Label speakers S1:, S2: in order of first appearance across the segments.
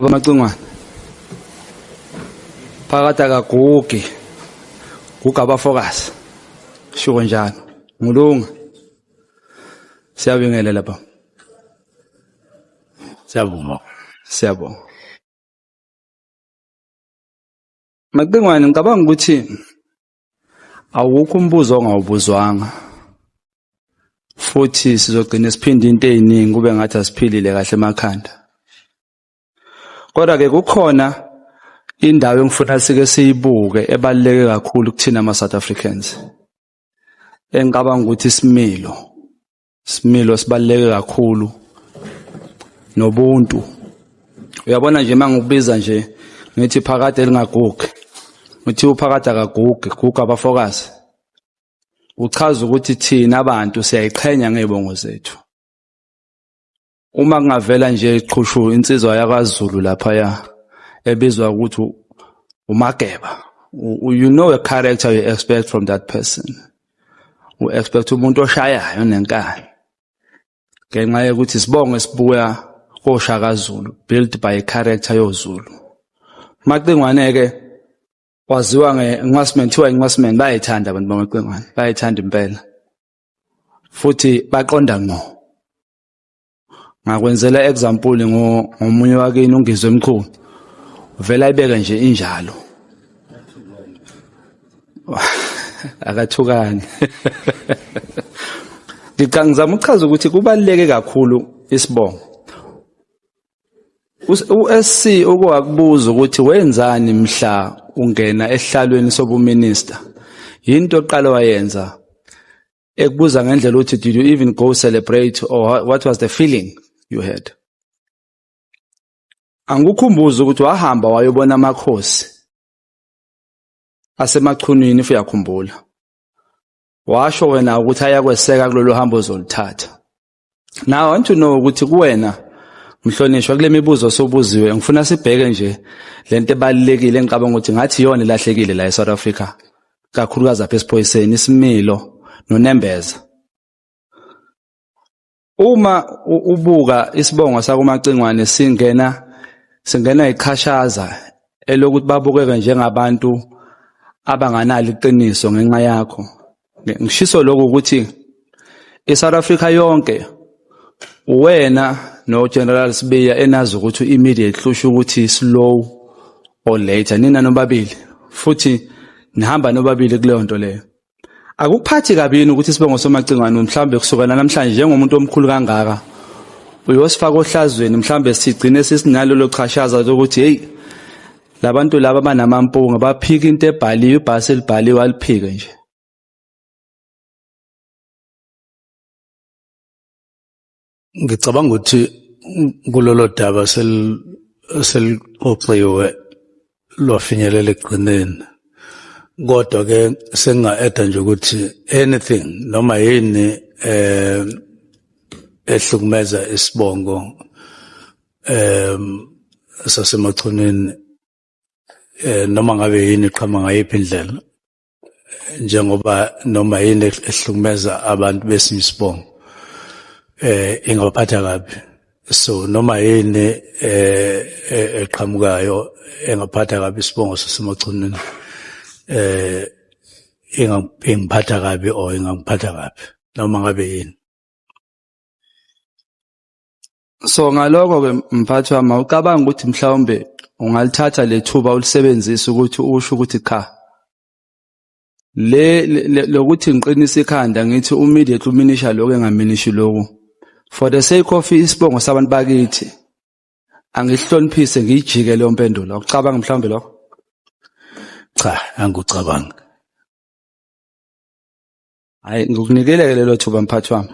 S1: Bamacingwana. Phakathi akagugi. Guga abafokazi. Shuko njalo. Ngulunga. Siyabingelela baba. Siyabonga. Siyabonga. Macingwane ngicabanga ukuthi awukho umbuzo ongawubuzwanga futhi sizogcina siphinde into eziningi kube ngathi asiphilile kahle emakhanda kodwa ke kukhona indawo engifuna sike siyibuke ebaluleke kakhulu kuthina ama South Africans engicabanga ukuthi isimilo Similo sibaleke kakhulu nobuntu. Uyabona nje mangikubiza nje ngithi phakade elingagugi. Uthi uphakade akagugi, guga abafokazi. Uchaza ukuthi thina abantu siyayiqhenya ngebongo zethu. Uma kungavela nje iqhushu insizwa yakwaZulu laphaya ebizwa ukuthi uMageba. You know a character you expect from that person. U expect umuntu oshayayo nenkani. Ngenxa yokuthi isibongo esibuya koShaka Zulu built by a character yoZulu. Macingwane ke waziwa ngeNcwaseman kuthiwa iNcwaseman bayayithanda abantu bamaCingwane bayayithanda impela futhi baqonda ngqo. ngakwenzela example ngomunye wakini ungizwe emkhulu uvela ayibeke nje injalo akathukani ngicanga ngizama ukuchaza ukuthi kubaluleke kakhulu isibongo uSC uke wakubuza ukuthi wenzani mhla ungena ehlalweni sobuminista yinto oqala wayenza ekubuza ngendlela ukuthi did you even go celebrate or what was the feeling you had angikhumbuza ukuthi wahamba wayobona amakhosi asemachunwini if uyakhumbula washo wena ukuthi ayakweseka kulolu hambo ozoluthatha now i want to know ukuthi kuwena mhlonishwa kule mibuzo osubuziwe ngifuna sibheke nje lento ebalekile engicabanga ukuthi ngathi yona ilahlekile la eSouth Africa kakhulukazi apha esiphoyiseni isimilo nonembeza uma ubuka isibongo sakumacingwane singena singena iqhashaza elokuthi babukeke njengabantu abanganalo iqiniso ngenxa yakho ngishiso lokho ukuthi iSouth Africa yonke wena noGeneral Sibiya enazi ukuthi imedia ihlusha ukuthi slow or later nina nobabili futhi nihamba nobabili kuleyo nto leyo akuphathi kabini ukuthi sibe ngosomacingwane mhlawumbe kusukela namhlanje njengomuntu omkhulu kangaka uyosifaka ohlazweni mhlawumbe sigcine sisinalolo chashaza lokuthi heyi labantu laba banamampunga baphika into ebhaliwe ibhasi elibhaliwe aliphike nje
S2: ngicabanga ukuthi kulolo daba selixoxiwe lwafinyelela ekugcineni kodwa ke senginga-eda nje ukuthi anything noma yini eh ehlukumeza isibongo um sasemachoneni eh noma ngabe yini iqhama ngayiphi indlela njengoba noma yini ehlukumeza abantu besinye isibongo eh ingabaphatha kabi so noma yini eh, eh eqhamukayo engaphatha kabi isibongo sasemachoneni eh ingiphatha kabi or ingangiphatha kabi noma ngabe yini
S1: So ngaloko ke mphathi wami awucabanga ukuthi mhlawumbe ungalithatha lethuba ulisebenzise ukuthi usho ukuthi cha le lokuthi ngiqinisa ikhanda ngithi immediately uminisha lokho engaminishi lokho for the sake of isibongo sabantu bakithi angihloniphise ngiyijike leyo mpendulo awucabanga mhlawumbe lokho
S2: cha angikucabanga
S1: hayi ngikunikele ke lelo thuba mphathi wami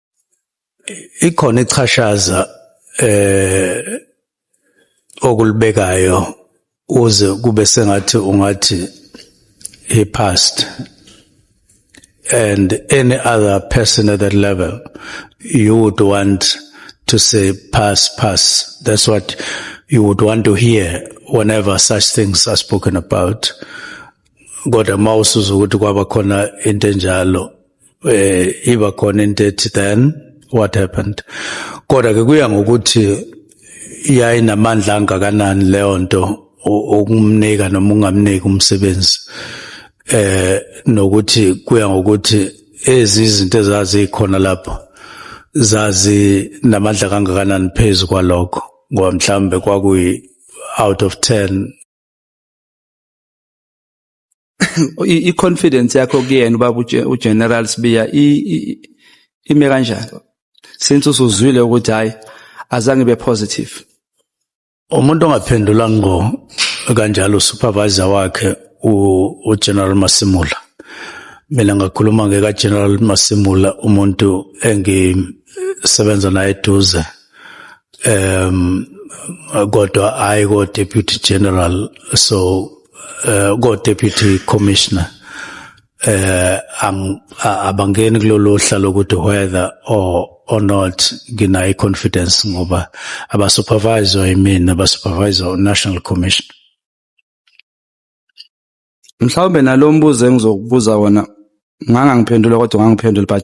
S2: ikhona ichashaza eh okulibekayo uze kube sengathi ungathi he passed and any other person at that level you would want to say pass pass that's what you would want to hear whenever such things are spoken about kodwa mawusuza ukuthi kwaba khona into enjalo eh iba khona into ethi then what happened kodwa ke kuya ngokuthi yayinamandla angakanani leyo nto okumnika noma ungamniki umsebenzi eh nokuthi kuya ngokuthi ezizinto ezazikhona lapho zazi namandla kangakanani phezulu kwalokho ngoba mhlambe kwakuyi out of 10
S1: i confidence yakho kuyena ubaba u General Sibiya ime kanjani since usuzwile ukuthi hayi azange be positive
S2: umuntu ongaphendula ngo kanjalo supervisor wakhe u General Masimula mina ngakhuluma ngeka General Masimula umuntu engisebenza naye eduze um kodwa hayi ko deputy general so uh, ko deputy commissioner eh ang abangeni kulolu hlalo ukuthi whether or or not nginayi confidence ngoba aba supervisor imina aba supervisor national commission
S1: mhlawumbe nalombuzo engizokubuza wona ngangangiphendula kodwa ngangiphendula but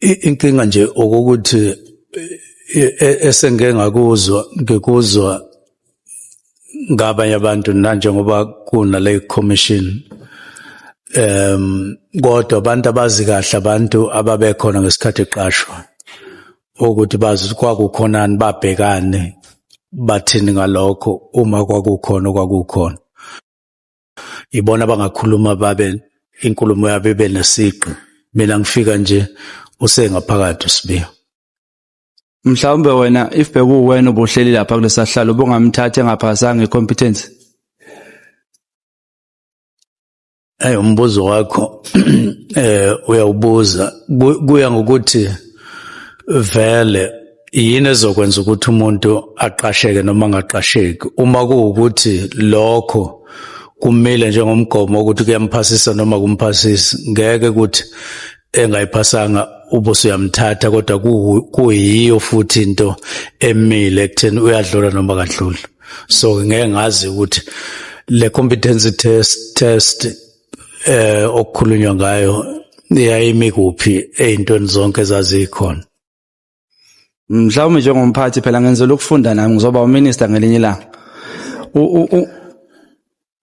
S2: inkinga nje okokuthi e, e, esengike ngakuzwa ngikuzwa ngabanye abantu nanjengoba kuna le commission em kodwa abantu abazi kahle abantu ababekhona ngesikhathi eqashwa ukuthi bazi kwakukhonani babhekane bathini ngalokho uma kwakukhona kwakukhona Ibona abangakhuluma babe inkulumo yabo ibe nesiqi. Mina ngifika nje usengaphakathi uSibiya.
S1: Mhlawumbe wena if bekuwena ubuhleli lapha kulesahlalo ubungamthatha engaphasanga icompetence.
S2: Hey umbuzo wakho eh uyawubuza kuya ngokuthi vele yini ezokwenza ukuthi umuntu aqasheke noma angaqasheki uma kuwukuthi lokho kumile njengomgomo ukuthi kuyamphasisa noma kumphasisi ngeke ukuthi engayiphasanga ubuso uyamthatha kodwa kuyiyo futhi into emile ekutheni uyadlula noma kadluli so ngeke ngazi ukuthi le competency test test eh okukhulunywa ngayo yayimi kuphi ezintweni zonke zazikhona
S1: mhlawumbe njengomphathi phela ngenzela ukufunda nami ngizoba uminister ngelinye ilanga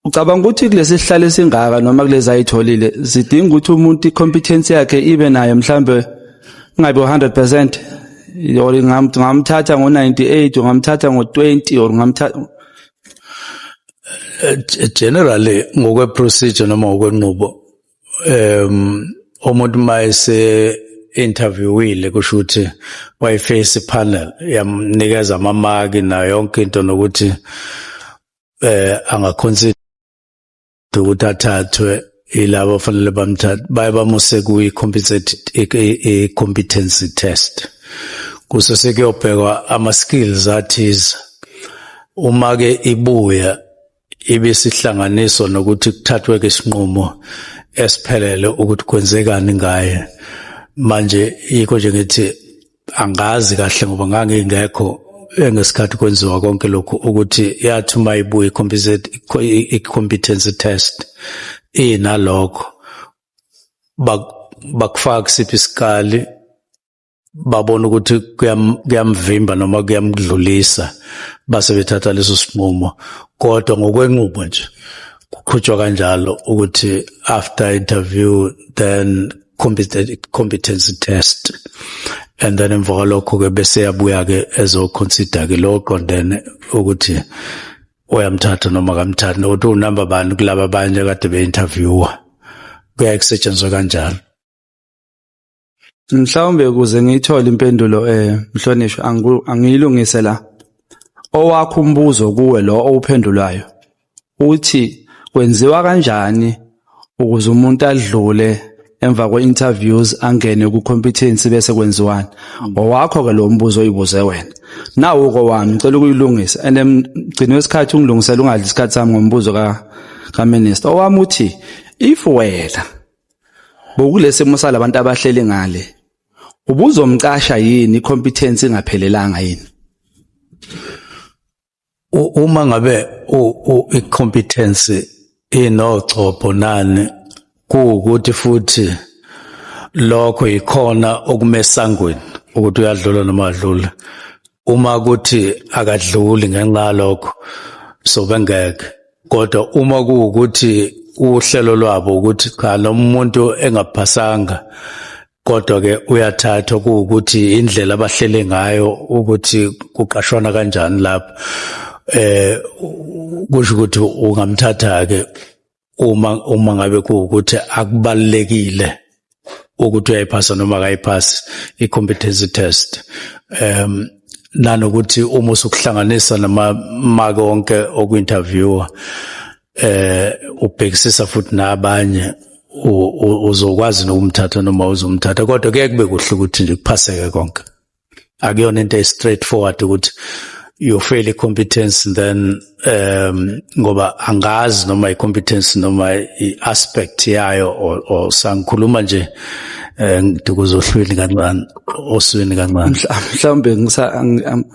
S1: ucabanga ukuthi kulesi sihlalo esingaka noma kulezi ayitholile zidinga ukuthi umuntu i-competence yakhe ibe nayo mhlawumbe ingabe 100 percent or ngamthatha ngo-98 ungamthatha ngo-20 or ngamthatha
S2: eh, generally ngokwe-procedure noma ngokwenqubo um umuntu mayese interviewile kusho ukuthi wayiface panel yamnikeza amamaki nayo yonke into nokuthi eh angaconsider ukuthi athathwe ilabo fanele bamthathe baye bamuse kuyi competency i competency test kuse sekuyobhekwa ama skills athize uma ke ibuya ibisihlanganiso nokuthi kuthathwe ke isinqumo esiphelele ukuthi kwenzekani ngaye manje yikho nje ngithi angazi kahle ngoba ngangingekho ngesikhathi kwenziwa konke lokhu ukuthi yathi uma ibuye i-competency test inalokho bakufaka kusiphi isikali babona ukuthi kuyamvimba noma kuyamdlulisa base bethatha leso sinqumo kodwa ngokwenqubo nje kuqhutshwa kanjalo ukuthi after interview then competency test and then emva kwalokho ke bese yabuya ke ezoconsider ke lo qondene ukuthi uyamthatha noma kamthathi nokuthi unumber bani kulaba abanye kade be-interviewer kuyaye kusetshenzwe kanjalo
S1: Mhlawumbe ukuze ngiyithole impendulo eh mhlonishwa angiyilungise la. Owakho umbuzo kuwe lo owuphendulayo uthi kwenziwa kanjani ukuze umuntu adlule emva kwe-interviews angene ku-competency bese kwenziwani owakho ke lo mbuzo oyibuze wena nawo kowami ngicela ukuyilungisa and mgcini wesikhathi ungilungisela ungadli isikhathi sami ngombuzo ka ka minister owami uthi if wena Bokulesimo salabantu abahleli ngale. Ubuzomcasha yini competence ingaphelelanga yini?
S2: Uma ngabe i competence inogcobho nani kuwukuthi futhi lokho yikhona okumesangweni ukuthi uyadlula noma adlula uma kuthi akadluli ngenxa lokho so bengeke kodwa uma kuwukuthi uhlelo lwabo ukuthi cha lo muntu engaphasanga kodwa ke uyathathwa kuwukuthi indlela abahlele ngayo ukuthi kuqashwana kanjani lapho eh kusho ukuthi ungamthatha ke uma uma ngabe kuwukuthi akubalekile ukuthi uyayiphasa noma akayiphasi i-competency test um nanokuthi uma usukuhlanganisa namamake onke oku-interviewa eh ubhekisisa futhi nabanye uzokwazi nokumthatha noma uzomthatha kodwa kuye kube kuhle ukuthi nje kuphaseke konke akuyona into e straight forward ukuthi you fail i competence then um ngoba angazi noma i competence noma i aspect yayo or, or sangikhuluma nje eh ngikuzohlwini kancane oswini kancane mhlawumbe ngisa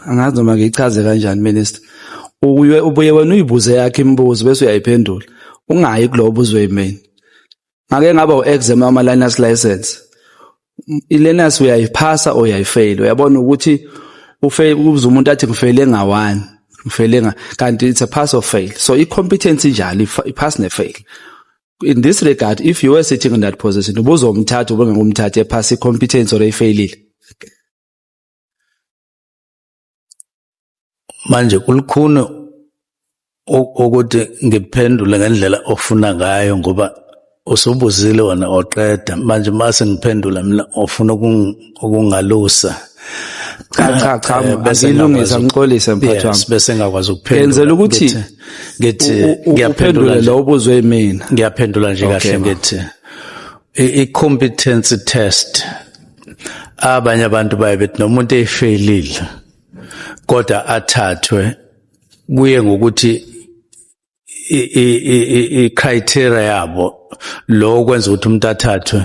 S1: angazi noma ngichaze kanjani minister ubuye wena uyibuze yakhe imibuzo bese uyayiphendula ungayi kulobo uzwe imini ngake ngaba u-exam wama-liners license i-learners uyayiphasa or uyayifeyila uyabona ukuthi uze umuntu athi ngifeyile nga-one ngifeyile nga kanti it's a pass or fail so i-competence injalo i-pass ne-fail in this regard if you were sitting in that position ubuzomthatha ubengekumthatha ephasa i-competence or eyifeyilile
S2: manje kulukhuni ukuthi ngiphendule ngendlela ofuna ngayo ngoba usubuzile wona oqeda manje mase ngiphendula mina ofuna ukungalusa
S1: cha cha cha eh, bese ngilungisa ngixolise mphathi wami bese ngakwazi ukuphendula
S2: yenzela ukuthi
S1: ngithi ngiyaphendula lo ubuzwe mina ngiyaphendula nje kahle
S2: ngithi i-competency test abanye abantu baye bethi nomuntu efelile kodwa athathwe kuye ngokuthi i-criteria yabo lo kwenza ukuthi umuntu athathwe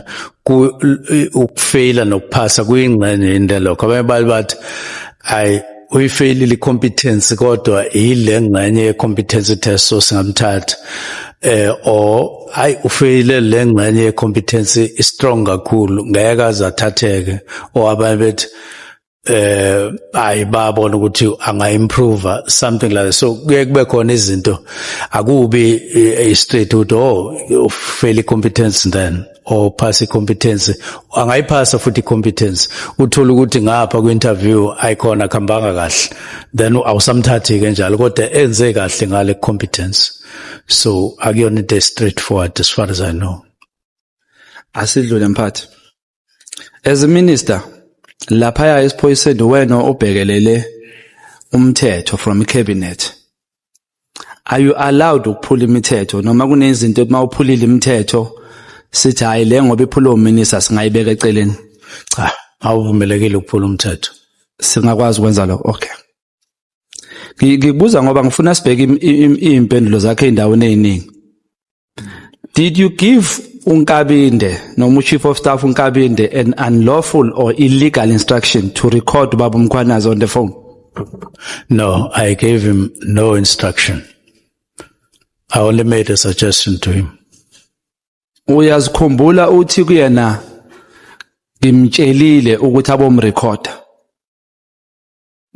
S2: ukufeyila nokuphasa kuyingxenye into lokho abanye bathi ayi uyifeyilile i-competence kodwa yile ngxenye ye-competence test so singamthatha eh or hayi ufeyile le ngxenye ye-competence i-strong kakhulu ngeke aze athatheke or abanye bethi eh hayi babona ukuthi anga-improva something like that. so kuye kube khona izinto akubi eh, i-straight ukuthi oh ufeyile i-competence then or pass competence angayiphasa futhi competence uthola ukuthi ngapha ku interview ayikhona khambanga kahle then awusamthathi ke njalo kodwa enze kahle ngale competence so akuyona into straight forward as far as i know
S1: asidlule mphathi as a minister lapha ya esiphoyiseni wena obhekelele umthetho from cabinet Are you allowed ukuphula imithetho noma kunezinto uma uphulile imithetho sithi hayi le ngoba iphula uminisa singayibeka eceleni? Cha,
S2: awuvumelekile ukuphula umthetho. Singakwazi
S1: ukwenza lokho. Okay. Ngibuza ngoba ngifuna sibheke impendulo zakhe endaweni eziningi. Did you give uNkabinde noma uChief of Staff uNkabinde an unlawful or illegal instruction to record Baba Mkhwanazi on the phone? No,
S2: I gave him no instruction. I only made a suggestion to him. Uyazikhumbula
S1: uthi kuyena ngimtshelile ukuthi abomrecorder.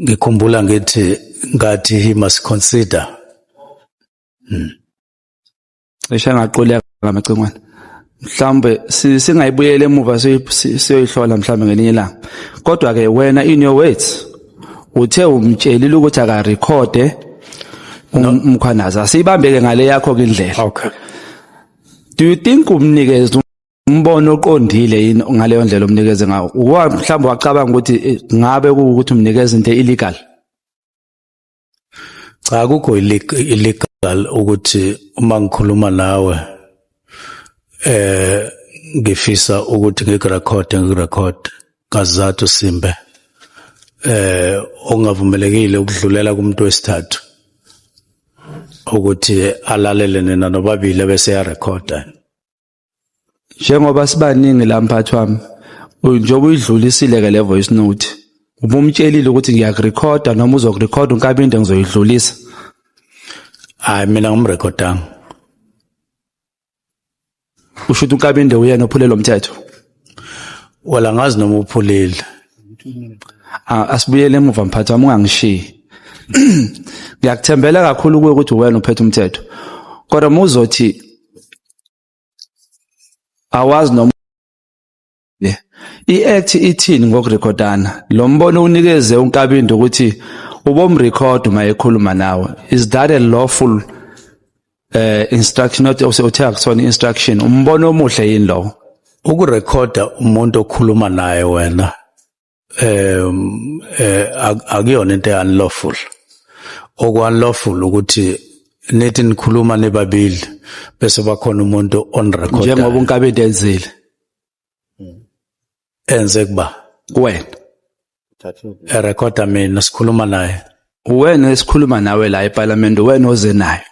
S2: Ngikhumbula ngithi ngathi he must consider. Hmm.
S1: cishe ngaquleka ngamacingwane mhlawumbe singayibuyela emuva siyoyihlola mhlawumbe ngelinye ilanga kodwa-ke wena in your words uthe umtshelile ukuthi akarekhode umkhwanazi asiyibambeke ngale yakho ke indlela okay
S2: do
S1: you think umnikeze umbono oqondile yini ngaleyo ndlela omnikeze ngawo mhlawumbe wacabanga ukuthi eh, ngabe kuwukuthi umnikeza into illegal
S2: Cha akukho illegal ukuthi uma ngikhuluma nawe eh ngifisa ukuthi ngikurecord ngikurecord kazathu simbe eh ongavumelekile ukudlulela kumuntu wesithathu ukuthi alalele nina nobabili bese ya recorder
S1: njengoba sibaningi la mphathi wami njengoba uyidlulisile ke le voice note ubumtshelile ukuthi ngiyakurekhoda noma uzokurekhoda unkabinde ngizoyidlulisa
S2: hayi mina ngimrekhodanga
S1: usho ukuthi unkabinde uyena ophule lo mthetho
S2: wala ngazi noma uphulile
S1: asibuyele emuva mphathi wami ungangishiyi ngiyakuthembela kakhulu kuwe ukuthi uwena uphethe umthetho kodwa uma uzothi awazi noma i-act ithini ngokurekhodana lo mbono unikeze unkabinde ukuthi ubomrekhoda uma ekhuluma nawe is that a lawful uh, instruction not uthe akusona instruction umbono omuhle yini lowo ukurekhoda
S2: umuntu okhuluma naye wena um eh akuyona into unlawful okwanlawful ukuthi nithi nikhuluma nibabili bese bakhona umuntu on record njengoba unkabedi enzile enze kuba kuwena erekoda mina sikhuluma naye uwena esikhuluma
S1: nawe la eParliament uwena oze nayo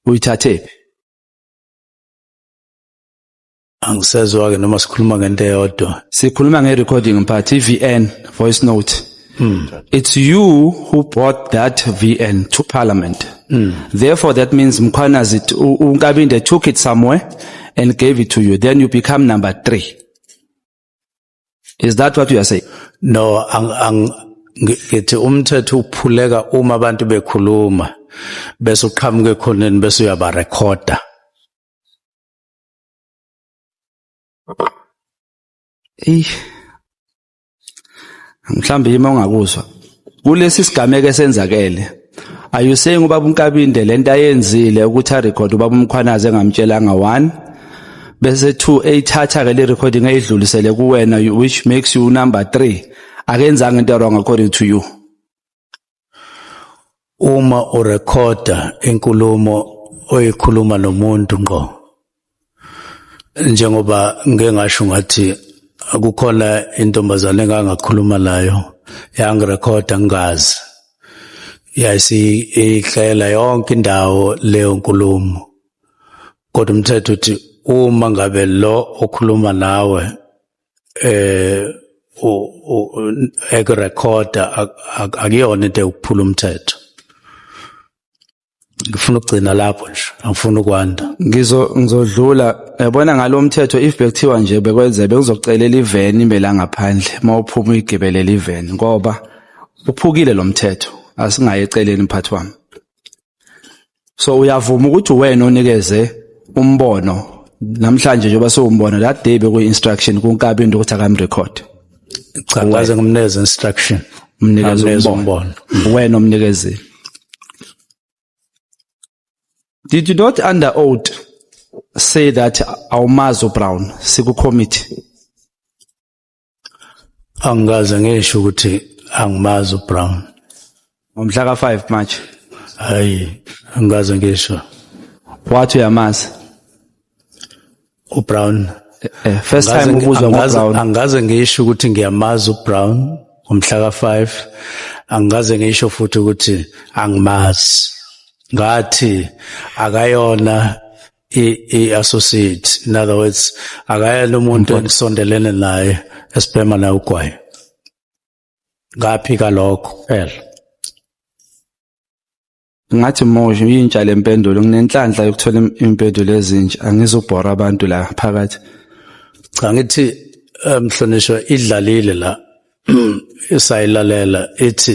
S1: uyithathephi
S2: angisezwa ke noma sikhuluma ngento eyodwa sikhuluma nge recording
S1: mphathi VN voice note mm. it's you who brought that VN to parliament mm. therefore that means mkhwanazi unkabinde took it somewhere and gave it to you then you become number 3 is that what you are saying no ang,
S2: ang ngithi umthetho uphuleka uma abantu bekhuluma bese uqhamuke khoneni bese uyabarekhoda
S1: Ey. Mhlambe yima ungakuzwa. Kulesi sigameko esenzakele. Are you saying ubaba uNkabinde lento ayenzile ukuthi a record ubaba uMkhwanazi engamtshelanga one bese two eyithatha ke le recording eyidlulisele kuwena which makes you number 3 akenzanga into wrong according to you.
S2: uma urekhoda inkulumo oyikhuluma nomuntu ngqo njengoba ngeke ngasho ngathi kukhona intombazane engangakhuluma nayo yangirekhoda ngingazi yayisiyihlela yonke indawo leyo nkulumo kodwa umthetho uthi uma ngabe lo okhuluma nawe eh ekurekhoda akuyona into yokuphula umthetho ngifuna ukugcina lapho nje angifuni ukwanda ngizo ngizodlula
S1: yabona ngalomthetho if bekuthiwa nje bekwenze bekuzocelela iveni imbela ngaphandle mawuphuma uyigibelela iveni ngoba uphukile lomthetho asingaye eceleni mphathi wami so uyavuma ukuthi uwena onikeze umbono namhlanje njengoba siwumbona la day bekuyi instruction kunkabi into ukuthi akamrecord cha
S2: ngaze ngimneze instruction umnikeze
S1: umbono wena omnikezile did you not under oath say that awumazi ubrown siku committee
S2: angikaze ngisho ukuthi angimazi uBrown ngomhla
S1: ka5 March hayi
S2: angikaze ngisho wathi
S1: uyamazi
S2: uBrown eh, eh, first time
S1: ubuzwa ngoBrown angikaze ngisho ukuthi
S2: ngiyamazi uBrown ngomhla ka5 angikaze ngisho futhi ukuthi angimazi ngathi akayona i-associate in other words akayena umuntu engisondelene naye esibhema naye ugwayi ngaphika lokho phela
S1: ngathi mosho yintsha le mpendulo nginenhlanhla yokuthola impendulo ezintsha angizubhora abantu la phakathi cha
S2: ngithi eh, mhlonishwa idlalile la isayilalela ithi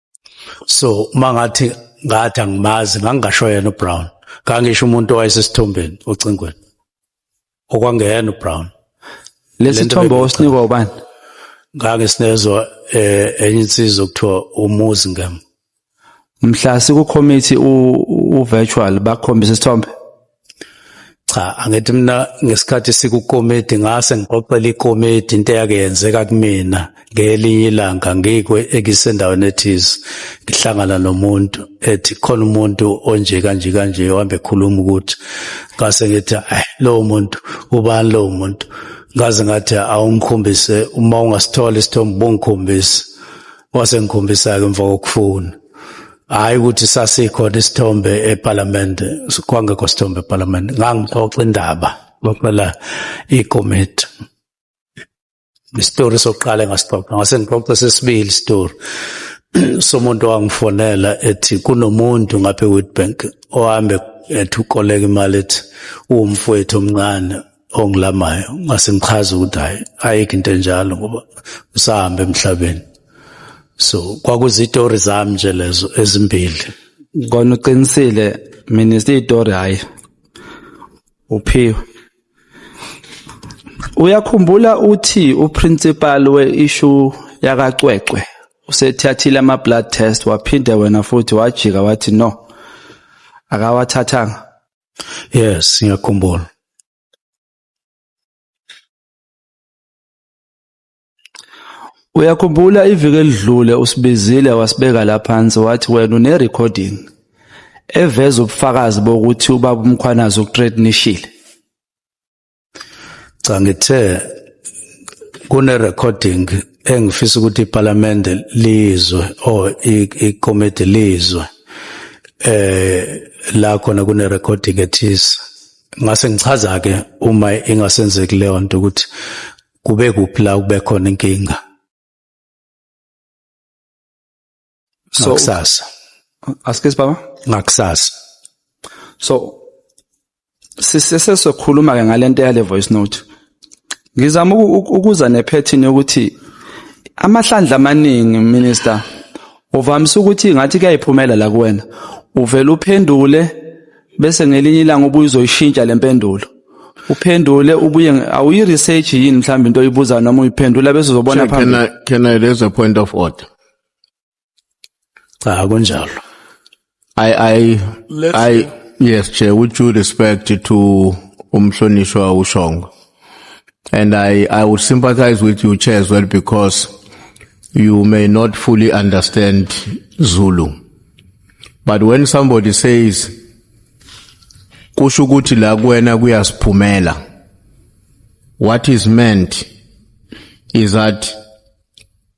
S2: so uma ngathi ngathi angimazi ngangingasho yena uBrown ngangisho umuntu owayesesithombeni ocingweni okwangeyena uBrown lesi
S1: thombo osinikwa ubani ngake
S2: sinezwa eh, enye insizwa kuthiwa umuzi ngem mhla
S1: sikukhomithi u virtual bakhombisa isithombe
S2: cha angithi mina ngesikhathi sikukomedi ngase ngixoxela ikomedi into eyake yenzeka kumina ngelinye ilanga ngikwe ekisendaweni ethize ngihlangana nomuntu ethi khona umuntu onje kanje kanje ohambe ekhuluma ukuthi ngase ngithi eh lowo muntu ubani lowo muntu ngaze ngathi awungikhombise uma ungasithola isithombe bongikhombise wasengikhombisa-ke emva kokufuna hhayi ukuthi sasikhona isithombe ephalamende kwangekho sithombe ephalamende ngangixoxa indaba xoxela ikomiti isitori sokuqala engasixoxa ngase ngixoxe sesibili isitori somuntu owangifonela ethi kunomuntu ngapha ewitbank ohambe ethi ukoleka imali ethi uwumfowethu omncane ongilamayo ngase ngichaza ukuthi hayi ayikho into enjalo ngoba usahambe emhlabeni so kwakuzitori zami nje lezo ezimbili kona
S1: uqinisile mina isitori hayi uphiwe uyakhumbula uthi uprincipal we-issue yakacwecwe usethathile ama-blood test waphinde wena futhi wajika wathi no akawathathanga
S2: Yes, ngiyakhumbula.
S1: Uyakhumbula iviki elidlule usibizile wasibeka la phansi wathi wena une recording eveza ubufakazi bokuthi ubaba uMkhwanazi ukuthreatenishile.
S2: cha ngithe kune recording engifisa ukuthi iParliament lizwe or iCommittee lizwe eh la khona kune recording ethisa ngase ngichaza ke uma ingasenzeki leyo nto ukuthi kube kuphi la kube khona inkinga
S1: so ngakusasa
S2: askes
S1: baba ngakusasa
S2: so
S1: sisesesokhuluma ke ngalento yale voice note ngizama ukuza nephethini yokuthi amahlandla amaningi minister uvamise ukuthi ngathi kuyayiphumela la kuwena uvela uphendule bese ngelinye ilanga ubuye uzoyishintsha le mpendulo uphendule ubuye awuyi research yini mhlawumbe into oyibuza noma uyiphendula bese uzobona phambili can I, can I raise a point
S3: of order
S2: cha kunjalo i i
S3: i yes che with due respect to umhlonishwa ushongo and i i would sympathize with you chair as well because you may not fully understand zulu but when somebody says kusho ukuthi la kuwena kuyasiphumela what is meant is that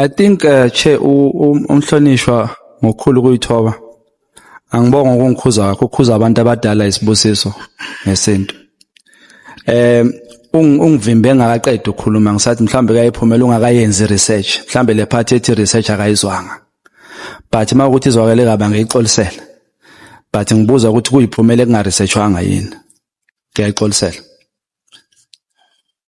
S3: I
S1: think uh, che umhlonishwa ngokukhulu kuyithoba angibonga ukungikhuza wakho ukhuza abantu abadala isibusiso ngesintu eh ungivimbe engakaqedi ukukhuluma ngisathi mhlambe kayiphumela ungakayenzi research mhlambe le part ethi research akayizwanga but uma ukuthi izwakele kabi angiyixolisela but ngibuza ukuthi kuyiphumela ekungaresearchwanga yini ngiyayixolisela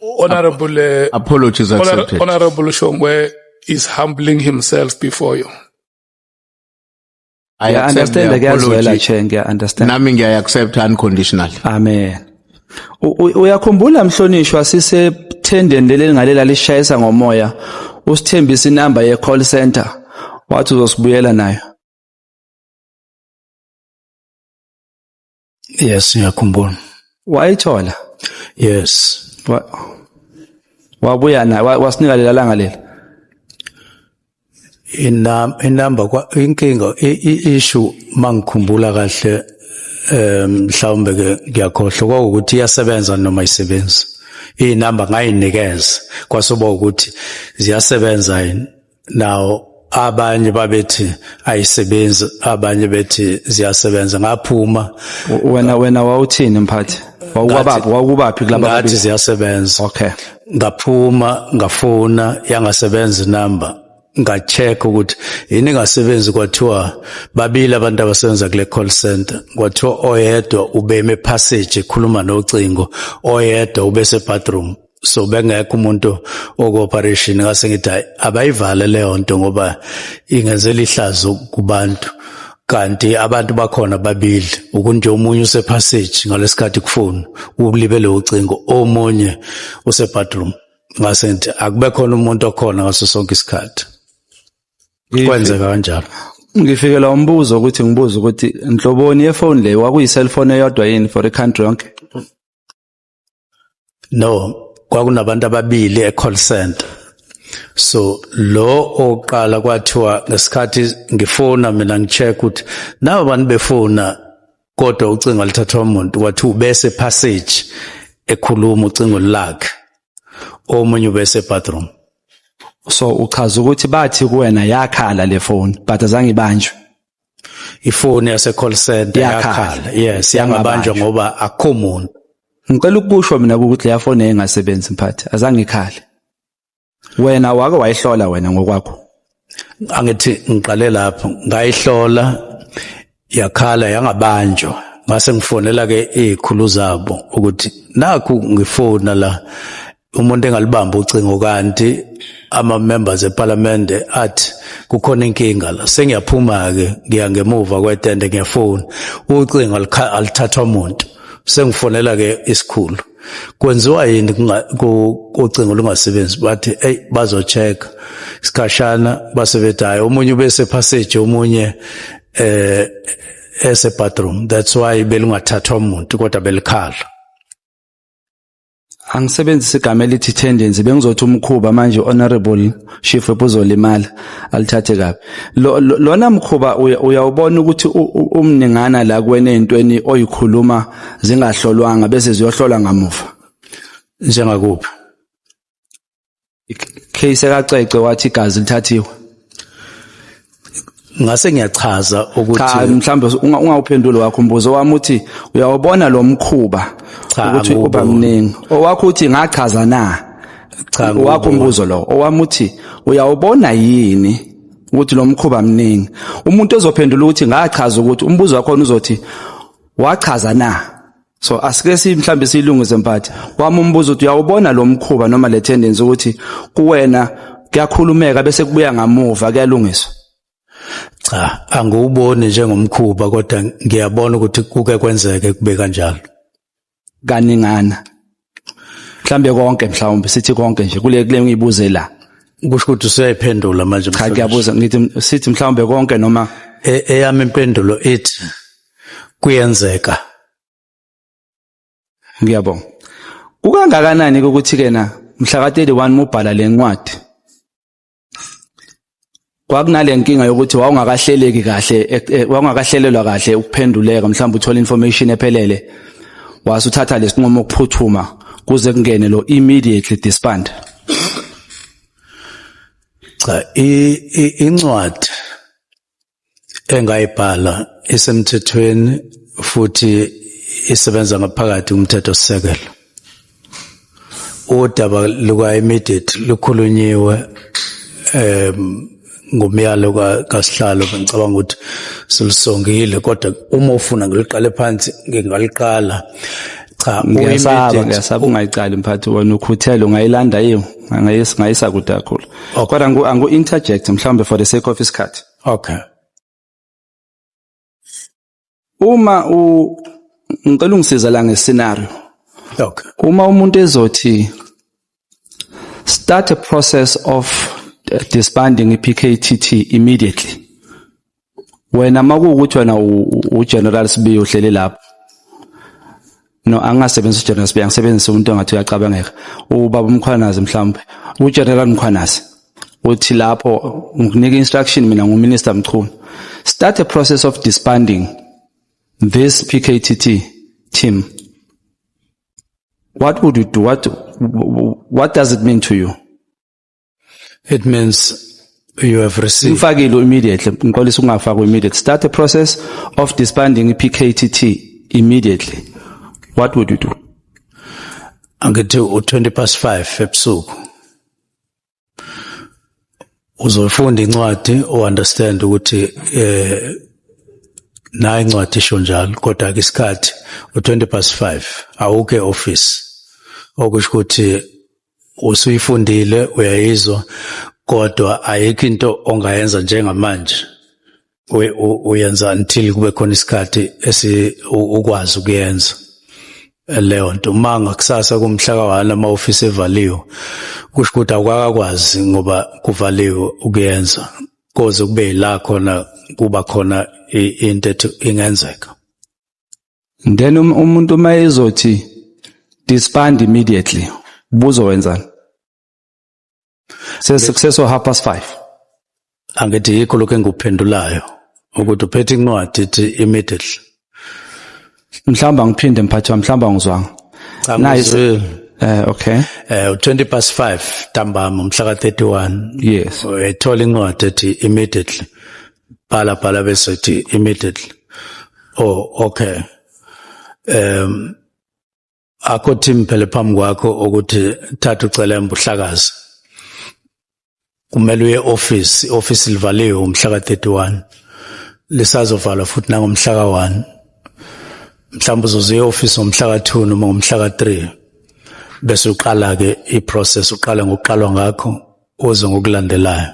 S1: Honorable
S4: uh, apologies
S3: accepted. Honorable Shongwe
S4: is humbling himself before you.
S3: I yeah, understand ngiyazwela che
S1: ngiya understand.
S3: Nami
S1: ngiya accept
S3: unconditional. Amen.
S1: Uyakhumbula mhlonishwa sise tendeni leli ngalela lishayisa ngomoya usithembisa inamba ye call center wathi uzosibuyela nayo.
S2: Yes, ngiyakhumbula. Wayithola?
S1: Yes.
S2: Wa,
S1: wabuya naye wa- wasinika lela langa lela.
S2: Inam inamba kwa inkinga i- i- issue mangikhumbula kahle eh mhlawumbe ke ngiyakhohlwa kwakuthi iyasebenza noma isebenzi. Inamba ngayinikeza kwasuba ukuthi ziyasebenza yini. nawo abanye babethi ayisebenzi abanye bethi ziyasebenza ngaphuma wena wena
S1: wawuthini mphathi wawubaphi wawubaphi kulaba ngathi ziyasebenza
S2: okay
S1: ngaphuma
S2: ngafona yangasebenza inamba ngacheck ukuthi yini ngasebenzi kwathiwa babili abantu abasebenza kule call center kwathiwa oyedwa ubeme passage ekhuluma nocingo oyedwa ubese bathroom so bengekho umuntu okoperation ngase ngithi abayivale leyo nto ngoba ingenzela ihlazo kubantu kanti abantu bakhona babili ukunje omunye usepassage ngalesikhathi kufuna ukulibele ucingo omunye usebadroom ngase ngithi akube khona umuntu okhona ngaso sonke isikhathi kwenzeka kanjalo ngifikela
S1: umbuzo ukuthi ngibuza ukuthi nhloboni yefoni leyo wakuyi cellphone eyodwa yini for i country yonke
S2: no kwakunabantu ababili e-call center so lo oqala kwathiwa ngesikhathi ngifona mina ngicheck ukuthi nabo bantu befona kodwa ucingo alithathwa umuntu wathi ubese passage ekhuluma ucingo lakhe omunye ubese bathroom so
S1: uchaza ukuthi bathi kuwena yakhala le phone but azange ibanjwe
S2: ifoni yase call center yakhala yes
S1: yangabanjwa
S2: ngoba akho muntu ngicela ukusho
S1: mina ukuthi leya foni engasebenzi mphathi azange ikhale wena wake wayihlola wena ngokwakho angithi
S2: ngiqale lapho ngayihlola yakhala yangabanjwa ngase ngifonela ke izikhulu zabo ukuthi nakhu ngifona la umuntu engalibamba ucingo kanti ama members eParliament athi kukhona inkinga la sengiyaphuma ke ngiya ngemuva kwetende ngiyafona ucingo alithathwa umuntu sengifonela ke isikhulu kwenziwa yini ucingo lungasebenzi bathi eyi bazochecka isikhashana base bethi hhayi omunye ubesephasseji omunye um esebathroom that's why belungathathwa muntu kodwa belikhala
S1: angisebenzise igama elithi tendency bengizothi umkhuba manje honorable chief uzolimala alithathe kabi lona mkhuba uyawubona ukuthi umningana la kuwena ezintweni oyikhuluma zingahlolwanga bese ziyohlolwa ngamuva njengakuphi case kaCece wathi igazi lithathiwe
S2: ngase ngiyachaza ukuthi cha mhlambe
S1: ungawuphenduli wakho umbuzo wami uthi uyawubona lo mkhuba ukuthi uba mningi owakho uthi ngachaza na cha wakho
S2: umbuzo lo
S1: owami uthi uyawubona yini ukuthi lo mkhuba mningi umuntu ozophendula ukuthi ngachaza ukuthi umbuzo wakho uzothi wachaza na so asike si mhlambe silungise mphathi wami umbuzo uthi uyawubona lo mkhuba noma le tendency ukuthi kuwena kuyakhulumeka bese kubuya ngamuva kuyalungiswa cha
S2: angiwuboni njengomkhuba kodwa ngiyabona ukuthi kuke kwenzeke kube kanjalo
S1: kaningana mhlambe konke mhlawumbe sithi konke nje kule kule ngibuze la kusho ukuthi
S2: useyiphendula manje cha ngiyabuza ngithi
S1: sithi mhlawumbe konke noma e, eyami impendulo
S2: ithi kuyenzeka
S1: ngiyabonga kukangakanani ukuthi kena mhla ka 31 mubhala lencwadi kwakunale nkinga yokuthi wawungakahleleki kahle e, e, wawungakahlelelwa kahle ukuphenduleka mhlawumbe uthola information ephelele wase uthatha lesinqumo ukuphuthuma kuze kungene lo immediately disband
S2: cha incwadi engayibhala isemthethweni futhi isebenza ngaphakathi kumthetho sisekelo udaba luka immediate lukhulunyiwe em ngomyalo kasihlalo ngicabanga ukuthi silisongile kodwa uma ufuna ngiliqale phansi ngingaliqala cha uyimidela ngiyasabe
S1: ungayiqali mphathi wena ukhuthele ungayilanda yini ngayis ngayisa kude kakhulu okay. kodwa angu angu interject mhlawumbe for the sake of isikhathi okay uma u ngicela ungisiza la ngescenario okay
S2: uma umuntu
S1: ezothi start a process of disbanding iPKTT immediately wena makuwukuthi wena uGeneral Sibiya uhleli lapho no angasebenzisa uGeneral Sibiya ngisebenzisa umuntu ongathi uyacabangeka ubaba umkhwanazi mhlawumbe uGeneral Mkhwanazi uthi lapho ngikunika instruction mina nguMinister Mchunu start a process of disbanding this PKTT team what would you do what what does it mean to you
S2: It means you have received ngifakile immediately
S1: ngiqolisa ukungafakwa immediately start the process of disbanding iPKTT immediately what would you do
S2: angithi u20 past 5 ebusuku uzoyifunda incwadi uunderstand ukuthi eh nayi incwadi isho njalo kodwa ke isikhathi u20 past 5 awuke office okusho ukuthi usuyifundile uyayizwa kodwa ayikho into ongayenza njengamanje uyenza until kube khona isikhathi esi ukwazi ukuyenza leyo nto uma ngakusasa kumhla kawana uma ofisi evaliwe kusho ukuthi awukakakwazi ngoba kuvaliwe ukuyenza koze kube yila khona kuba khona into ethi ingenzeka
S1: then um, umuntu uma ezothi disband immediately buzowenzani sesukseso half past five angithi
S2: yikho lokhu engikuphendulayo ukuthi uphethe incwadi ithi immediately
S1: mhlawumbe angiphinde mphathi wami mhlawumbe angizwanga nice
S2: eh okay
S1: eh 20 past 5
S2: ntambama umhla ka 31 yes ethola
S1: incwadi
S2: ethi immediately bhala bhala bese thi immediately oh okay um akho team phela phambi kwakho ukuthi thatha ucela embuhlakazi kumele uye office office livaliwe umhla ka31 lisazovalwa futhi nangomhla ka1 mhlawumbe uzoze e-office ngomhla ka-2 noma ngomhla ka-3 bese uqala-ke i-process uqale ngokuqalwa ngakho uze ngokulandelayo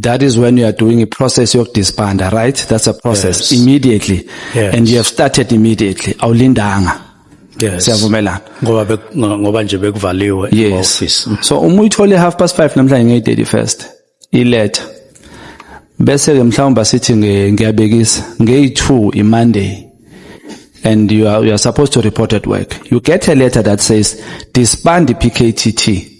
S1: that is when you are doing a process of disband right that's a process yes. immediately yes. and you have started immediately awulindanga yes
S2: siyavumelana ngoba
S1: ngoba
S2: nje bekuvaliwe yes. office so
S1: uma uyithole half past 5 namhlanje nge 31st iletha bese ke mhlawumbe sithi ngiyabekisa nge 2 i monday and you are, you are supposed to report at work you get a letter that says disband the pktt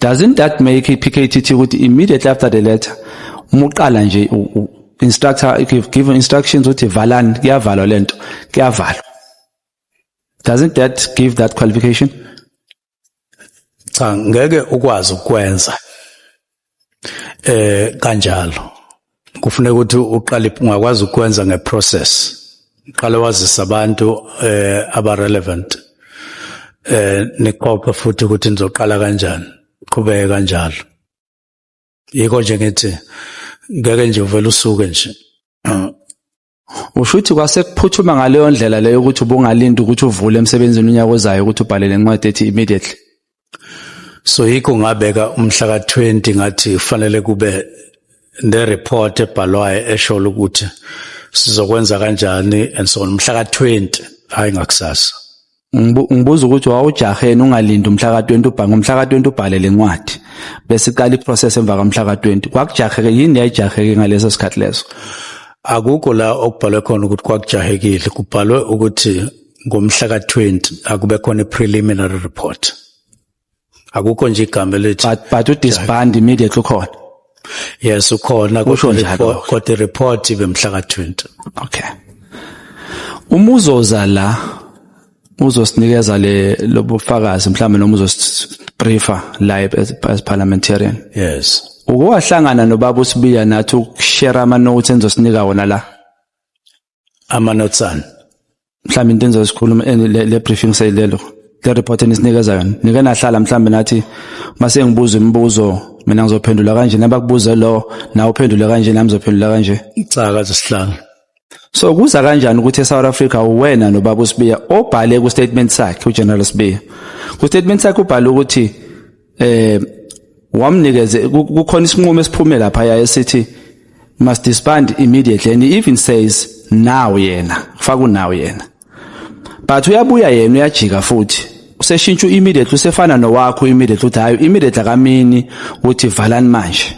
S1: Doesn't that make iPKTT ukuthi immediately after the letter muqala nje instructor give instructions ukuthi valani kuyavalwa lento kuyavalwa doesn't that give that qualification
S2: cha ngeke ukwazi ukwenza eh kanjalo kufuneka ukuthi uqale ungakwazi ukwenza ngeprocess uqale wazisa abantu eh abarelevant eh niqophe futhi ukuthi nizoqala kanjani qhubeke kanjalo yiko nje ngithi ngeke nje uvele usuke nje Usho
S1: ukuthi kwase kuphuthuma ngaleyo ndlela leyo ukuthi ubungalinda ukuthi uvule emsebenzini unyaka ozayo ukuthi ubhale le ncwadi ethi immediately.
S2: So yikho ngabeka umhla ka-20 ngathi kufanele kube ne-report ebhalwayo esho ukuthi sizokwenza kanjani and so on umhla ka-20 hhayi ngakusasa. ngibuza
S1: ukuthi wawujaheni ungalindi umhla ka-20 ubhange umhla ka-20 ubhale le ncwadi bese iqala iprocess emva kamhla ka-20 kwakujaheke yini yayijaheke ngaleso sikhathi leso akukho
S2: la okubhalwe khona ukuthi kwakujahekile kubhalwe ukuthi ngomhla ka-20 akube khona i-preliminary report akukho nje igama elithi but but u disband
S1: immediately ukhona yes
S2: ukhona kusho njalo kodwa report ibe mhla ka 20
S1: okay
S2: uma uzoza
S1: la uzosinikeza le lobufakazi mhlawumbe noma uzosibriefa la as parliamentarian yes
S2: ukowahlangana
S1: nobaba usibiya nathi ukushare ama notes enizosinika wona la ama notes
S2: an mhlawumbe into
S1: enizosikhuluma le briefing seyilelo le report enisinikeza yona nike nahlala mhlawumbe nathi mase ngibuza imibuzo mina ngizophendula kanje nabakubuze lo nawe uphendule kanje nami ngizophendula kanje icaka zesihlanu
S2: so kuza
S1: kanjani ukuthi eSouth Africa uwena nobaba uSibiya obhale ku statement sakhe uGeneral Sibiya ku statement sakhe ubhale ukuthi eh wamnikeze kukhona isinqumo esiphume lapha ya esithi must disband immediately and he even says now yena kufaka unaw yena but uyabuya yena uyajika futhi useshintsha immediately usefana nowakho immediately uthi hayi immediately akamini ukuthi valani manje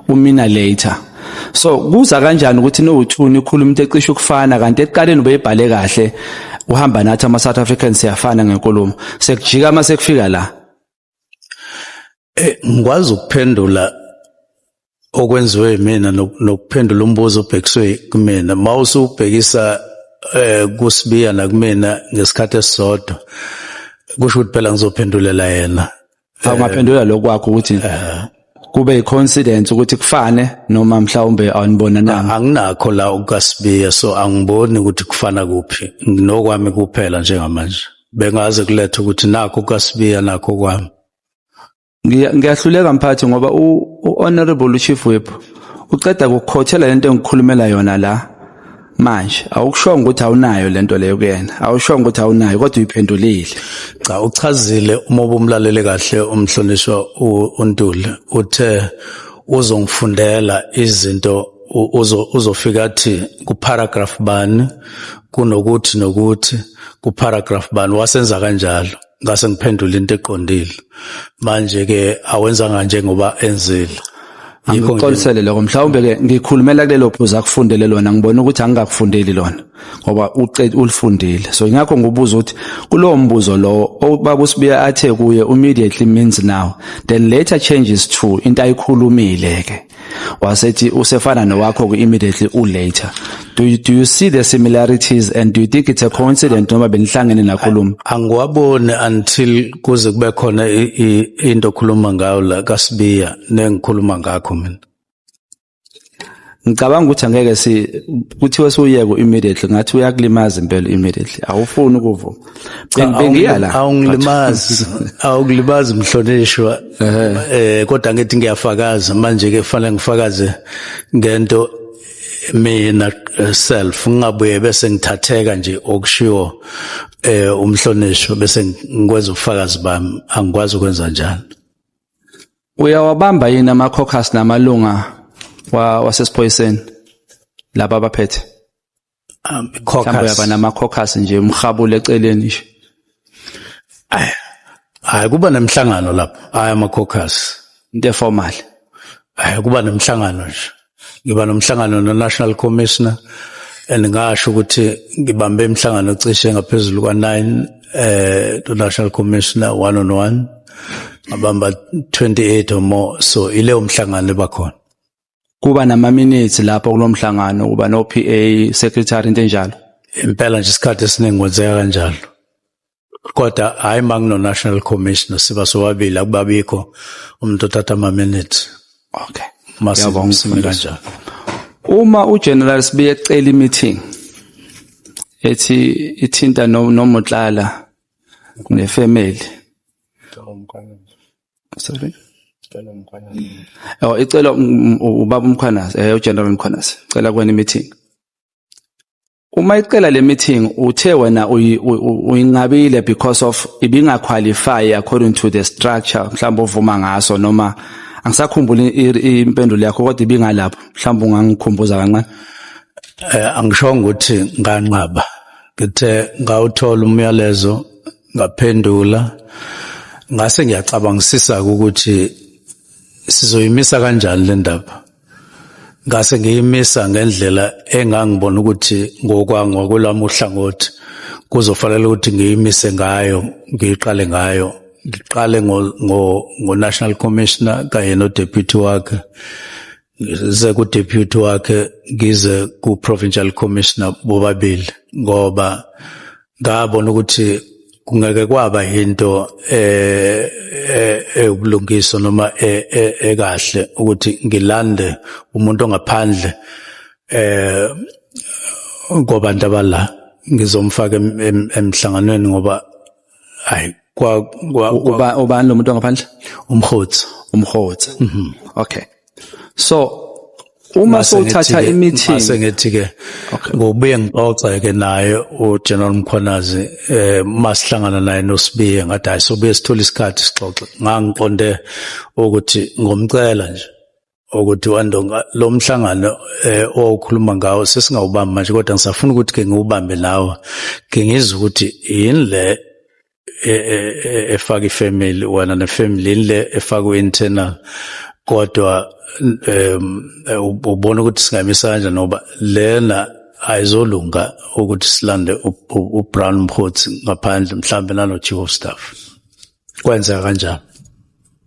S1: umina later so kuza kanjani ukuthi nowuthuni ukhuluma into ecishe ukufana kanti ekuqaleni ubeyibhale kahle uhamba nathi ama South Africans siyafana ngenkulumo sekujika uma sekufika la Eh
S2: ngikwazi ukuphendula okwenziwe mina nokuphendula umbuzo obhekiswe kumina mawusubhekisa eh kusibiya nakumina ngesikhathi esisodwa kusho ukuthi phela ngizophendulela yena awungaphendula eh,
S1: lokwakho ukuthi eh. kube yicoincidence ukuthi kufane noma mhlawumbe anibonananga anginakho la
S2: ukasibiya so angiboni ukuthi kufana kuphi nginokwami kuphela njengamanje bengaze kulethe ukuthi nakho ukasibiya nakho kwami
S1: ngiyahluleka mphathi ngoba u-honorable chief whip uceda kukhothela lento engikhulumela yona la manje awukushongo ukuthi awunayo lento leyo kuyena awushongo ukuthi awunayo kodwa uyiphendulile cha
S2: uchazile uma ubumlalele kahle umhlonishwa uNtuli uthe uzongifundela izinto uzofika athi kuparagraph bani kunokuthi nokuthi kuparagraph bani wasenza kanjalo ngase ngiphendula into eqondile manje ke awenzanga njengoba enzile ngikuxolisele
S1: lokho mhlawumbe ke ngikhulumela kulelo phuzu akufundele lona ngibona ukuthi angikakufundeli lona ngoba uqede ulifundile so ingakho ngibuza ukuthi kulowo mbuzo lowo obaba usibiya athe kuye immediately means now then later changes to into ayikhulumile ke wasethi usefana nowakho ku immediately u later do you, do you see the similarities and do you think it's a coincidence noma benihlangene nakhuluma angiwaboni
S2: until kuze kube khona into okhuluma ngayo la kaSibiya nengikhuluma ngakho mina
S1: ngicabanga ukuthi angeke si kuthiwe suyeke immediately ngathi uyakulimaza impela immediately awufuni ukuvuma bengiya la awungilimazi awungilimazi
S2: mhlonishwa eh kodwa ngithi ngiyafakaza manje ke kufanele ngifakaze ngento mina eh, self ngingabuye bese ngithatheka nje okushiwo eh umhlonishwa bese ngikwenza ubufakazi bami angikwazi ukwenza njalo uyawabamba
S1: yini ama caucus namalunga wasesiphoyiseni laba abaphethe um mhlawumbe yaba nama-caucus nje umhabule eceleni nje hayi
S2: kuba nemhlangano lapho hayi ama-caucus into eformal
S1: hayi kuba
S2: nemhlangano nje ngiba nomhlangano no-national commissioner and ngasho ukuthi ngibambe imihlangano cishe ngaphezulu kwa-nine eh to-national commissioner one on one ngabamba 28 or more so ileyo mhlangano ebakhona kuba
S1: namaminithi lapho kulomhlangano kuba no PA secretary into enjalo impela nje isikhathi
S2: esiningi kwenzeka kanjalo kodwa hayi mangino national commissioner siba sobabili akubabikho umuntu othatha ama minutes okay
S1: masibongisime
S2: kanjalo uma
S1: ugeneral sibiye ecela imeeting ethi ithinta nomotlala nefamily sorry Oh icela um, um, ubaba umkhwanazi eh ugeneral umkhwanazi cela kwena meeting Uma icela le meeting uthe wena uyinqabile because of ibinga qualify according to the structure mhlawumbe ovuma ngaso noma angisakhumbuli impendulo yakho kodwa ibingalapho mhlawumbe ungangikhumbuza kancane eh
S2: angishongo ukuthi nganqaba ngithe ngawuthola umyalezo ngaphendula ngase ngiyacabangisisa ukuthi sizoyimisa kanjani le ndaba ngase ngiyimisa ngendlela engangibona ukuthi ngokwangwakwelami uhlangothi kuzofanele ukuthi ngiyimise ngayo ngiyiqale ngayo ngiqale ngo-national commissioner kanye nodeputy wakhe ngize ku deputy wakhe ngize ku provincial commissioner bobabili ngoba ngabona ukuthi kungeke kwaba into eh, eh eyobulungiswa noma eh, eh, ekahle ukuthi ngilande umuntu ongaphandle eh ngobantu abala ngizomfaka emhlanganweni ngoba hayi kwa kwa
S1: uba ubani lo muntu ongaphandle umhotsi
S2: umhotsi mhm.
S1: okay so uma sothatha imithi mase ngithi ke
S2: ngobuye ngixoxe ke naye uGeneral Mkhwanazi eh masihlangana naye noSibiye ngathi hayi sobuye sithola isikhathi sixoxe ngangiqonde ukuthi ngomcela nje ukuthi wandonga lo mhlangano eh owukhuluma ngawo sesingawubamba manje kodwa ngisafuna ukuthi ke ngiwubambe nawe ke ngizwe ukuthi yini le e, e, e, efaka ifamily wena nefamily yini le efaka internal kodwa um ubona ukuthi singamisa kanjani ngoba lena ayizolunga ukuthi silande uBrown Mkhothi ngaphandle mhlambe nalo chief of staff kwenza kanjani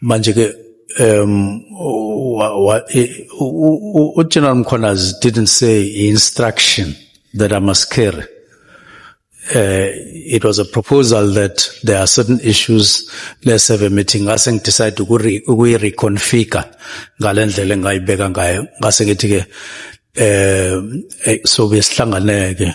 S2: manje ke um uGeneral Mkhwanazi didn't say instruction that I must carry uh, it was a proposal that there are certain issues let's have a meeting ngase ngidecide ukuyi reconfigure ngalendlela engayibeka ngayo ngase ngithi ke eh, eh sobe sihlanganeke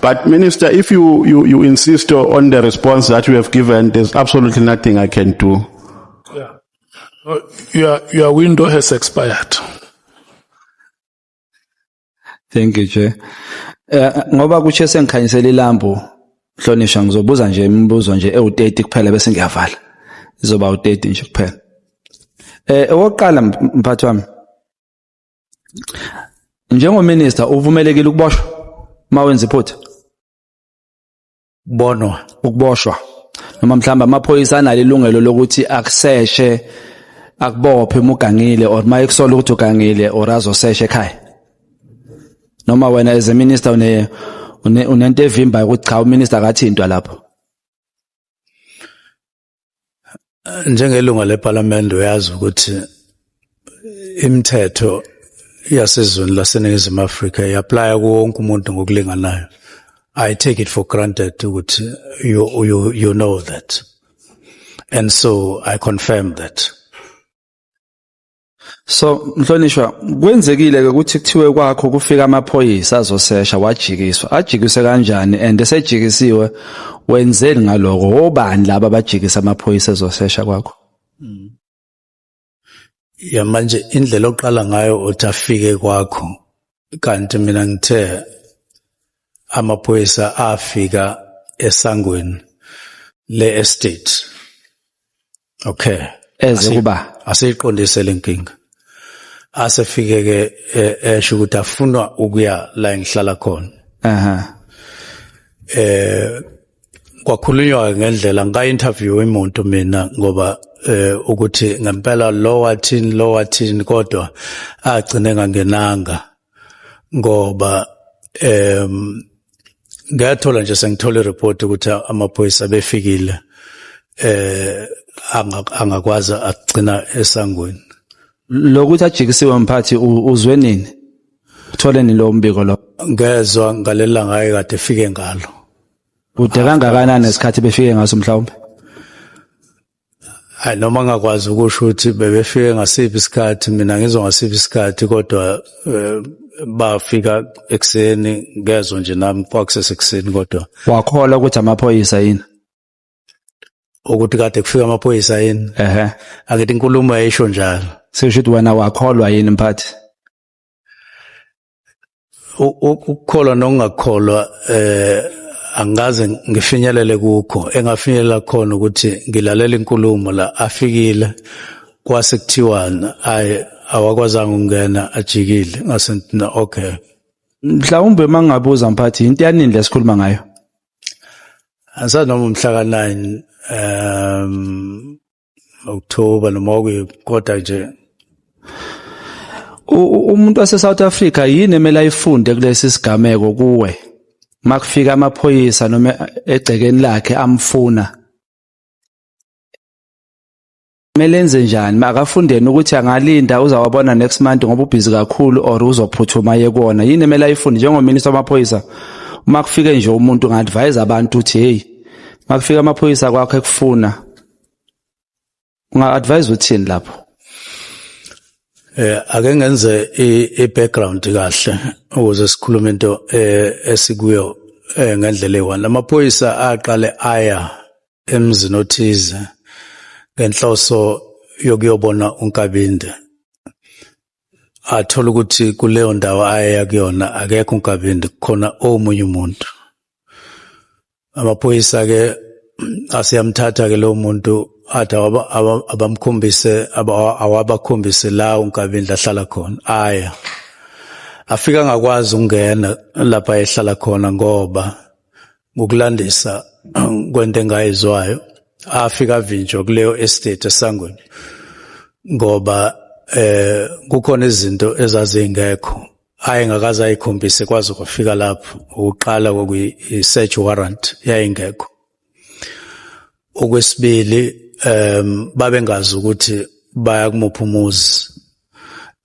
S5: But Minister, if you, you, you insist on the response that you have given, there's absolutely nothing I can do. Yeah. Uh,
S4: your, your window has expired.
S1: Thank you, Chair. Eh, ngoba kuthi sengikhanyisela ilambu hlonishwa ngizobuza nje imibuzo nje ewu-30 kuphela bese ngiyavala izoba u-30 nje kuphela eh owokuqala mphathi wami Njengominister uvumelekile ukuboshwa mawenza iphutha.
S2: Bonwa ukuboshwa.
S1: Noma mhlamba amaphoyisa analo ilungelo lokuthi akuseshe akubophe uma ugangile or uma ekusola ukuthi ugangile or azoseshe ekhaya. Noma wena as a minister une unento evimbayo ukuthi cha uminister akathintwa lapho.
S2: njengelunga lePhalamende uyazi ukuthi imithetho yasezweni laseNingizimu Afrika iapply kuwo wonke umuntu ngokulinganayo. I take it for granted ukuthi you, you, you know that. And so I confirm that.
S1: So mhlonishwa kwenzekile ke ukuthi kuthiwe kwakho kufika amaphoyisa azosesha wajikiswa ajikise kanjani and esejikisiwe wenzeni ngaloko wobani laba bajikisa amaphoyisa ezosesha kwakho
S2: hmm. ya manje indlela oqala ngayo uthi afike kwakho kanti mina ngithe amaphoyisa afika esangweni le estate okay eze
S1: kuba asiyiqondise lenkinga
S2: asefike ke e, esho ukuthi afunwa ukuya la engihlala khona aha eh kwakhulunywa ngendlela ngika interview imuntu mina ngoba eh ukuthi ngempela lo wathini lo wathini kodwa agcine ngangenanga ngoba em ngathola nje sengithola ireport ukuthi amaphoyisa befikile eh angakwazi agcina esangweni lokuthi
S1: ajikisiwe mphathi uzwe nini uthole ni lo mbiko lo ngezwe ngalela
S2: ngaye kade fike ngalo kude
S1: kangakanani nesikhathi befike ngaso mhlawumbe
S2: hayi noma ngakwazi ukusho ukuthi bebefike ngasiphi isikhathi mina ngizwa ngasiphi isikhathi kodwa eh, bafika ekuseni ngezwa nje nami kwakusesekuseni kodwa wakhola ukuthi
S1: amaphoyisa yini
S2: ukuthi kade kufika amaphoyisa yini ehe angithi inkulumo yayisho njalo sisho ukuthi wena
S1: wakholwa yini mphathi
S2: ukukholwa nokungakholwa eh angikaze ngifinyelele kukho engafinyelela khona ukuthi ngilalela inkulumo la afikile kwase kuthiwana ay awakwazanga ukungena ajikile ngase ntina okay mhlawumbe
S1: mangabuza mphathi into yanini lesikhuluma ngayo angisanoma
S2: umhla ka 9 um October noma kuyiphi kodwa nje
S1: umuntu wase South Africa yini emele ayifunde kulesi sigameko kuwe makufika amaphoyisa noma egcekeni lakhe amfuna kumele enze njani makafundeni ukuthi angalinda uzawabona next month ngoba ubhizi kakhulu or uzophuthuma yekona yini emele ayifunde njengominister wamaphoyisa uma kufike nje umuntu nga-advise abantu ukuthi heyi uma kufika amaphoyisa kwakho ekufuna unga advise uthini lapho eh
S2: ake ngenze i background kahle ukuze sikhulume into eh, esikuyo eh, ngendlela eyi-one lamaphoyisa aqale aya emzini othize ngenhloso yokuyobona unkabinde athola ukuthi kuleyo ndawo ayeya kuyona akekho unkabindi khona omunye umuntu amaphoyisa-ke aseyamthatha-ke lowo muntu athi abamkhombise awabakhombise la unkabindi ahlala khona aya afika angakwazi ukungena lapha ehlala khona ngoba ngokulandisa kwento engayizwayo afika avinjwa kuleyo estate esangweni ngoba eh kukhona izinto ezazingekho ayengakaze ayikhombise kwaze kwafika lapho ukuqala kwakuyi search warrant yayingekho okwesibili um babengazi ukuthi baya kumuphi umuzi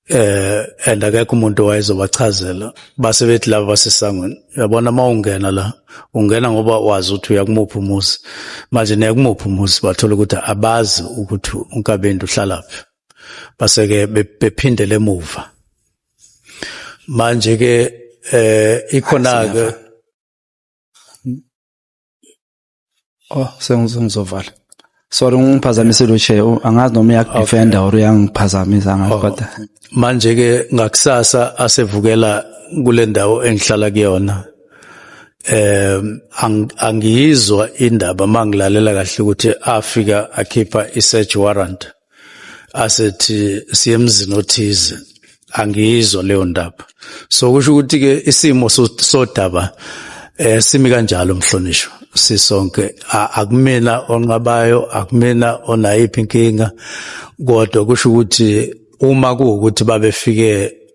S2: eh and akekho umuntu owayezobachazela base bethi laba basesangweni uyabona uma ungena la ungena ngoba wazi ukuthi uya kumuphi umuzi manje ne kumuphi umuzi bathola ukuthi abazi ukuthi unkabindi uhlalaphi base ke bephindele emuva manje ke eh ikhona ke
S1: Oh sengizovala. Sorry ngiphazamisile uche angazi noma uyakudefenda or uyangiphazamisa angazi oh. kodwa. Manje ke
S2: ngakusasa asevukela kule ndawo engihlala kuyona. Eh angiyizwa indaba mangilalela kahle ukuthi Africa akhipha i search warrant. asethi siye emzini othize angiyizwa leyo ndaba so kusho ukuthi ke isimo sodaba eh simi kanjalo mhlonishwa sisonke akumina onqabayo akumina onayiphi inkinga kodwa kusho ukuthi uma kuwukuthi babefike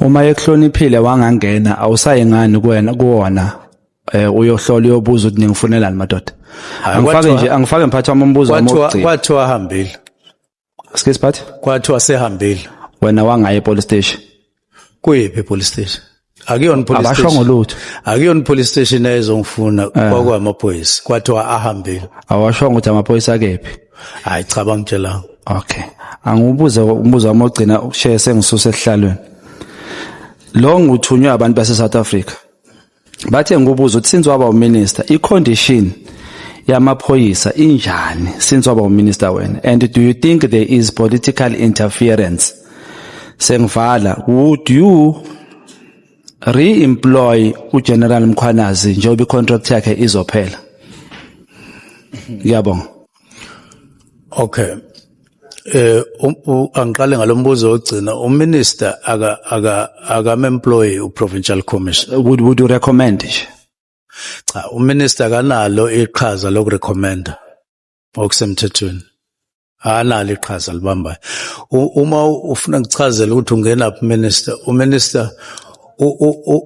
S1: Uma ekuhloniphile wangangena awusayi ngani kuwena kuwona eh uyohlola uyobuza ukuthi ningifunelani madoda. Angifake nje angifake mphathi wami umbuzo wami wokugcina. Kwathiwa ahambile.
S2: Excuse
S1: phathi? Kwathiwa sehambile.
S2: Wena wangaye
S1: police station. Kuyiphi
S2: police station? akuyona police station abashongo lutho akuyona
S1: police station
S2: ezongifuna eh. kwakwamaphoyisa kwathiwa ahambile awashongo ukuthi
S1: amaphoyisa akephi hayi cha bangitshela
S2: okay
S1: angibuze umbuzo wami ogcina ukushaye sengisuse esihlalweni lo nguthunywe abantu base South Africa bathe ngibuza ukuthi since waba uminister i condition yamaphoyisa injani since waba uminister wena and do you think there is political interference sengivala would you re-employ uGeneral Mkhwanazi njengoba icontract yakhe izophela ngiyabonga
S2: okay eh um, angiqale ngalombuzo ogcina uminister aka aka akamemployee uprovincial commissioner would would you recommend
S1: cha
S2: uminister kanalo iqhaza lokurecommenda okusemthethweni analo iqhaza libambayo uma ufuna kuchazela ukuthi ungena phi minister uminister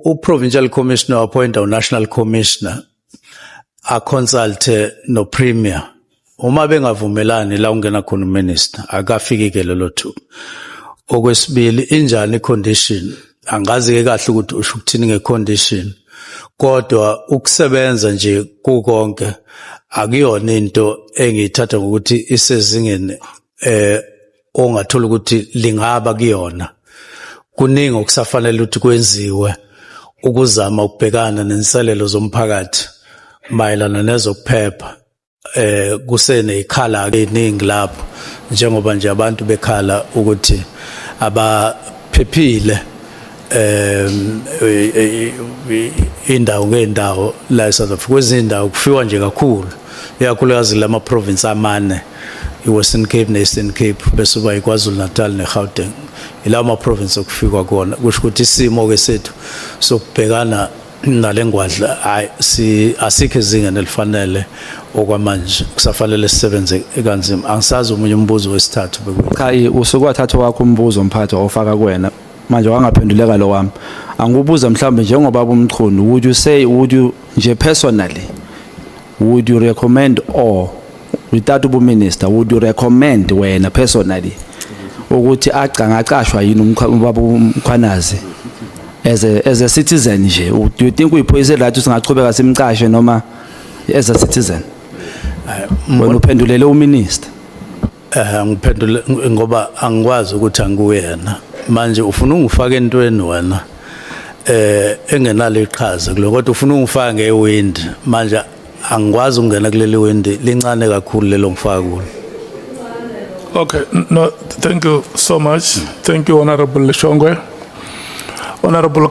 S2: uprovincial commissioner appointa unational commissioner aconsulte nopremier uma bengavumelani la ungena khona uminister akafiki ke lelo thuba okwesibili injani icondition angazi ke kahle ukuthi usho ukuthini ngecondition kodwa ukusebenza nje kukonke akuyona into engiyithatha ngokuthi isezingeni eh ongathola ukuthi lingaba kuyona kuningi okusafanele ukuthi kwenziwe ukuzama ukubhekana nenselelo zomphakathi mayelana nezokuphepha eh kusenezikhala ke iningi lapho njengoba nje abantu bekhala ukuthi abaphephile em indawo ngendawo la eSouth Africa kwezindawo kufiwa nje kakhulu iyakhulukazi lama province amane iWestern Cape neEastern Cape bese kuba iKwaZulu Natal neGauteng ilawo ma province okufikwa kuona kusho ukuthi isimo ke sethu sokubhekana nale ngwadla hayi si asikho izingane elifanele okwamanje kusafanele sisebenze kanzima angisazi omunye umbuzo wesithathu bekwe cha i- usuke
S1: wathatha wakho umbuzo mphathi wawufaka kuwena manje wangaphenduleka lo wami angikubuza mhlawumbe njengoba bumchunu would you say would you nje personally Would you recommend or without ubu minister would you recommend wena personally ukuthi agcangacashwa yini umkhaba umkhwanazi as a as a citizen nje do you think uyiphoyise right singachubeka simcashe noma as a citizen wena uphendulele uminister Eh
S2: ngiphendule ngoba angikwazi ukuthi angikuyena. Manje ufuna ungifaka entweni wena? Eh engenalo iqhaza kulo kodwa ufuna ungifaka ngewind. Manje angikwazi ukungena kuleli wind lincane kakhulu lelo ngifaka kulo. Okay,
S4: no, thank you so much. Thank you Honorable Leshongwe. Honorable